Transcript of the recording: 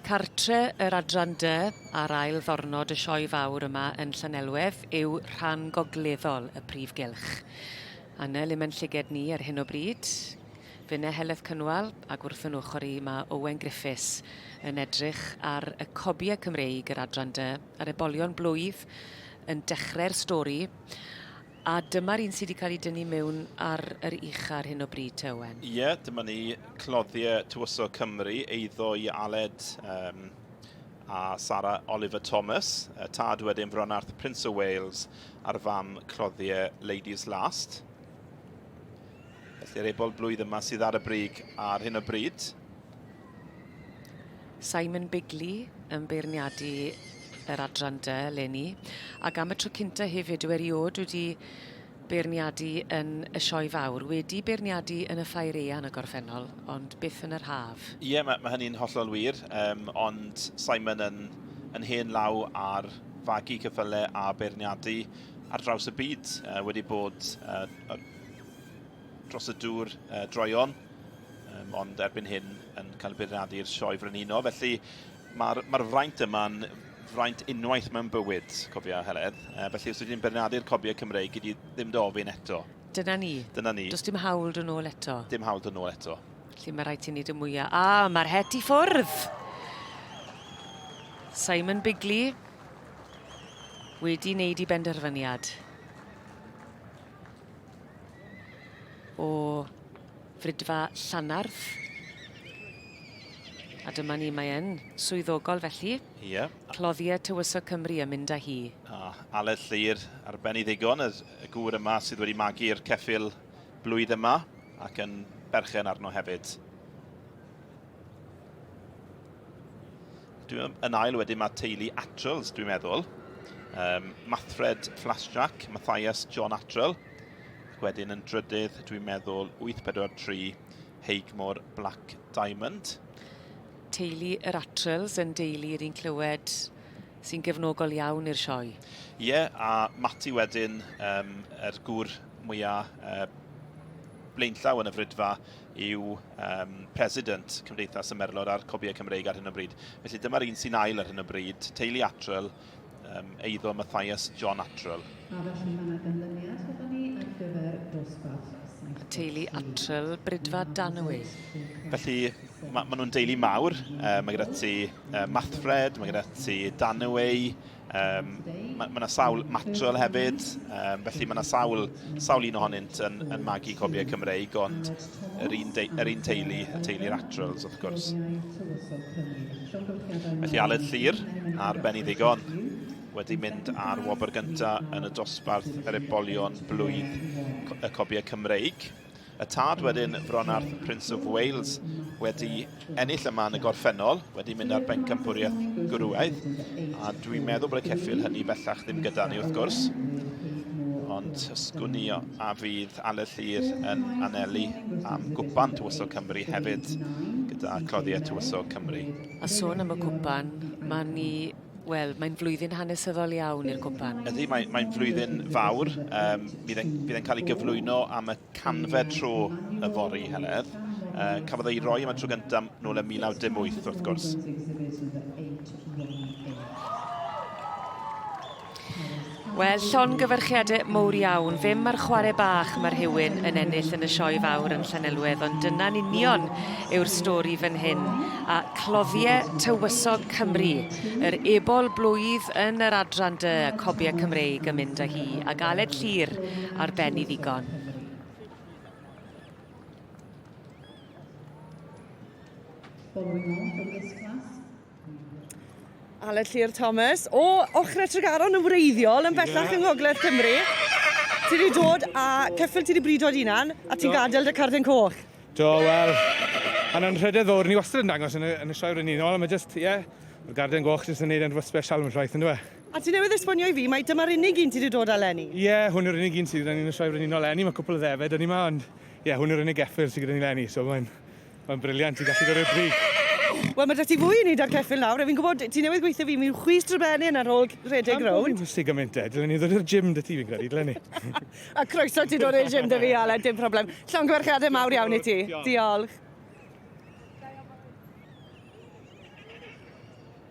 Cartre yr Adran Dy ar ail ddornod y Sioe Fawr yma yn Llanelwedd yw rhan gogleddol y Prif Gylch. Anel i'm yn llyged ni ar hyn o bryd. Fine Heleth Cynwal ac wrth yn ochr i mae Owen Griffiths yn edrych ar y cobiau Cymreig yr Adran Dy a'r ebolion blwydd yn dechrau'r stori. A dyma'r un sy 'di cael ei dynnu mewn ar yr ucha ar hyn o bryd te Owen? Ie, dyma ni, cloddiau Tywysog Cymru, eiddo i Aled um, a Sara Oliver Thomas, y tad wedyn Fronarth Prince o Wales a'r fam cloddiau Ladies Last. Felly'r ebol blwydd yma sydd ar y brig ar hyn o bryd. Simon Bigley yn beirniadu yr adran dy leni. Ac am y tro cynta hefyd yw eriod wedi beirniadu yn y sioe fawr. Wedi beirniadu yn y ffair ean y gorffennol, ond byth yn yr haf. Ie, yeah, mae, mae hynny'n hollol wir, um, ond Simon yn, yn hen law ar fagu cyffyle a beirniadu ar draws y byd, uh, wedi bod uh, dros y dŵr uh, droion. Um, ond erbyn hyn yn cael beirniadu i'r sioe frenuno, felly mae'r ma fraint yma'n fraint unwaith mewn bywyd, cofia Heledd. Uh, felly os ydyn bernadu'r cobiau Cymreig, gyd i ddim dofyn eto. Dyna ni. Dyna ni. Does dim hawl dyn ôl eto. Dim hawl dyn ôl eto. Felly mae rhaid ti wneud y mwyaf. A, ah, mae'r het i ffwrdd! Simon Bigley wedi wneud i benderfyniad. O Fridfa Llanardd. A dyma ni, mae e'n swyddogol felly. Ie. Yeah. Cloddiau Tywysog Cymru yn mynd â hi. A Aled Llyr, arbennig ddigon, y gŵr yma sydd wedi magu'r ceffil blwydd yma ac yn berchen arno hefyd. Dwi'n yn ail wedyn mae teulu Atrells, dwi'n meddwl. Um, Mathred Flasjack, Matthias John Atrell. Ac wedyn yn drydydd, dwi'n meddwl, 843 Heigmore Black Diamond. Teulu yr Atrels yn deulu yr un clywed sy'n gefnogol iawn i'r sioe. Ie, yeah, a Mati wedyn, um, er gŵr mwyaf uh, blaenllaw yn y frydfa, yw um, president Cymdeithas y Merlod a'r Cobiau Cymreig ar hyn o bryd. Felly dyma'r un sy'n ail ar hyn o bryd, Teulu Atrel, um, eiddo Matthias John Attrell. A felly mae yna ganlyniad gyda ni ar gyfer dosbarth y teulu Attrell, Brydfa Danwy. Felly, mae ma nhw'n deulu mawr. Uh, mae gyda ti uh, Mathfred, mae gyda ti Danwy, um, mae yna ma sawl Matrol hefyd, um, felly mae yna sawl, sawl un ohonynt yn, yn magu cobiau Cymreig, ond yr un, yr un teulu, y teulu Ratrells wrth gwrs. Felly Aled Llyr ar ben i ddigon wedi mynd ar wobr gyntaf yn y dosbarth yr ebolion blwydd y cobiau Cymreig. Y tad wedyn, Fronarth, Prince of Wales, wedi ennill yma yn y gorffennol, wedi mynd ar bencampwriaeth gwrywaidd, a dwi'n meddwl bod y ceffil hynny bellach ddim gyda ni wrth gwrs. Ond sgwn i a fydd Ale Llyr yn anelu am gwpan Tywysog Cymru hefyd, gyda cloddiau Tywysog Cymru. A sôn am y cwpan, mae ni Wel, mae'n flwyddyn hanesyddol iawn i'r cwpan. Ydy, mae'n mae flwyddyn fawr. Um, bydd e'n cael ei gyflwyno am y canfer tro y fori i Heledd. Uh, cafodd ei roi yma tro gyntaf nôl yn 1918 wrth gwrs. Wel, llon gyfyrchiadau mowr iawn. Fe mae'r chwarae bach mae rhywun yn ennill yn y sioe fawr yn Llanelwedd, ond dyna'n union yw'r stori fan hyn. A clofiau tywysog Cymru, yr ebol blwydd yn yr adran dy, cobiau Cymreig yn mynd â hi, ac Aled Llyr ar ben i ddigon. Following on from this class, Aled Llyr Thomas o ochr y Tregaron yn wreiddiol yn bellach yng Ngogledd Cymru. Ti wedi dod a ceffyl ti wedi brido dy hunan a ti'n gadael dy carden coch. Do, wel, mae'n anrhydedd fawr. Ni wastad yn dangos yn y, yn y sioe rydyn ni'n ôl, mae jyst, ie, yeah, mae'r garden goch jyst yn gwneud yn rhywbeth special yn rhaid, yn dweud. A ti newydd esbonio i fi mai dyma'r unig un ti 'di dod â 'leni? Ie, hwn yw'r unig un sydd gyda ni yn y Sioe Frenhinol 'leni. Mae cwpl o ddefed 'da ni 'ma, ond ie, hwn yw'r unig geffyl sydd gyda ni 'leni, so mae'n mae'n briliant i gallu dod i'r brig. Wel, mae 'da ti fwy i wneud â'r ceffyl nawr, a fi'n gwybod ti newydd gweithio fi mewn chwys drybenyn ar ôl rhedeg rownd. Pam bo' fi'n gymaint te? Dylen ni ddod i'r gym 'da ti fi'n credu, dylen ni? A croeso ti dod i'r gym 'da fi, Aled, dim problem. Llongyfarchiadau mawr iawn i ti. Diolch.